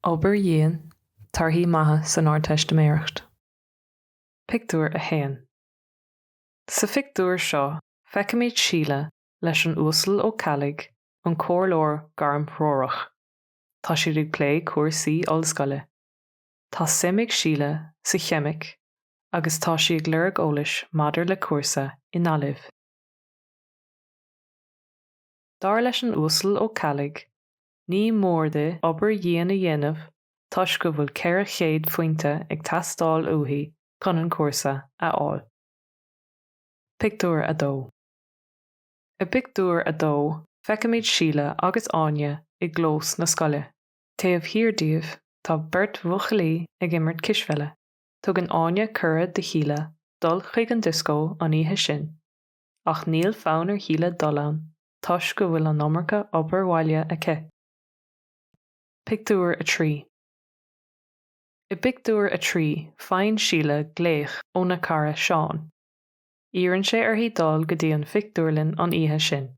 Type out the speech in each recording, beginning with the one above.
Obair dhian, torthaí maithe san Ardteistiméireacht. Pictiúr 1 Sa phictiúr seo feicimid Síle leis an Uasal Ó Ceallaigh, an comhairleoir gairmthreorach. Tá siad ag plé cúrsaí ollscoile. Tá suim ag Síle sa cheimic agus tá sí ag lorg eolais maidir le cúrsa i nGaillimh. Dar leis an Uasal Ó Ceallaigh, ní mór di obair dhian a dhéanamh toisc go bhfuil 400 phointe ag teastáil uaithi chun an cúrsa a fháil. Pictiúr 2 I bpictiúr a dó feicimid Síle agus Áine i gclós na scoile. Taobh thiar díobh, tá beirt bhuachaillí ag imirt cispheile. Tugann Áine cuireadh do Shíle dul chuig an dioscó an oíche sin, ach níl fonn ar Shíle dul ann toisc go bhfuil an iomarca obair bhaile aici. Pictiúr 3 I bpictiúr a trí, faigheann Síle glaoch óna cara Seán. Iarrann sé uirthi dul go dtí an phictiúrlann an oíche sin.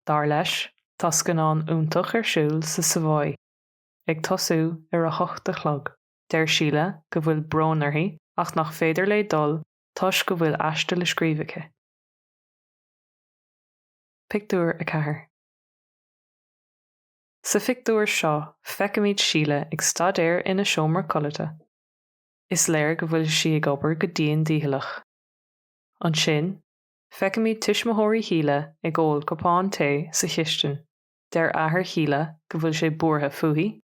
Dar leis, tá scannán iontach ar siúl sa Savoy, ag tosú ar a hocht a chlog. Deir Síle go bhfuil brón uirthi ach nach féidir léi dul toisc go bhfuil aiste le scríobh aici. Pictiúr 4 Sa phictiúr seo feicimid Síle ag staidéar ina seomra codlata. Is léir go bhfuil sí ag obair go dian dícheallach. Ansin, Feicimid tuismitheoirí Shíle ag ól cupán tae sa chistin. Deir athair Shíle go bhfuil sé buartha fúithi.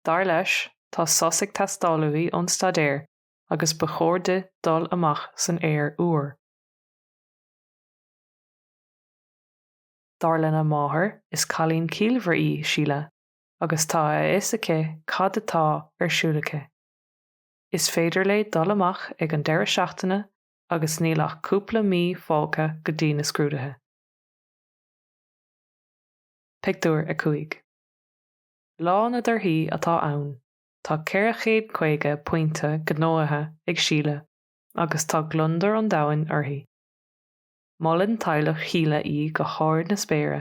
Dar leis, tá sos ag teastáil uaithi ón staidéar agus ba chóir di dul amach san aer úr. Dar lena máthair, is cailín ciallmhar í Síle agus tá a fhios aici cad atá ar siúl aici. Is féidir léi dul amach ag an deireadh seachtaine agus níl ach cúpla mí fágtha go dtí na scrúduithe. Pictiúr 5 Lá na dtorthaí atá ann, tá 450 pointe gnóthaithe ag Síle agus tá gliondar an domhain uirthi. Molann teaghlach Shíle í go hard na spéire.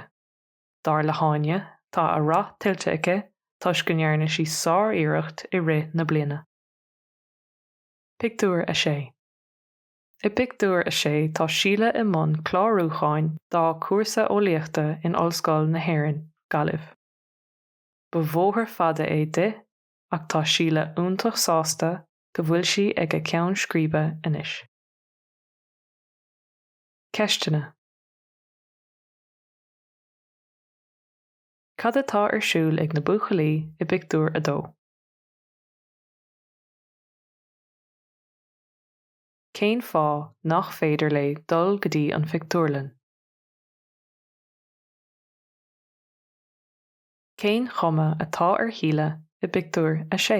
Dar le hÁine, tá a rath tuillte aici toisc go ndearna sí sár-iarracht i rith na bliana. Pictiúr 6 I bpictiúr a sé tá Síle i mbun clárúcháin dá cúrsa eolaíochta in Ollscoil na hÉireann, Gaillimh. Ba bhóthar fada é di ach tá Síle iontach sásta go bhfuil sí ag a ceann scríbe anois. Ceisteanna Cad atá ar siúl ag na buachaillí i bpictiúr a dó? Cén fáth nach féidir léi dul go dtí an phictiúrlann? Cén chuma atá ar Shíle i bpictiúr a sé?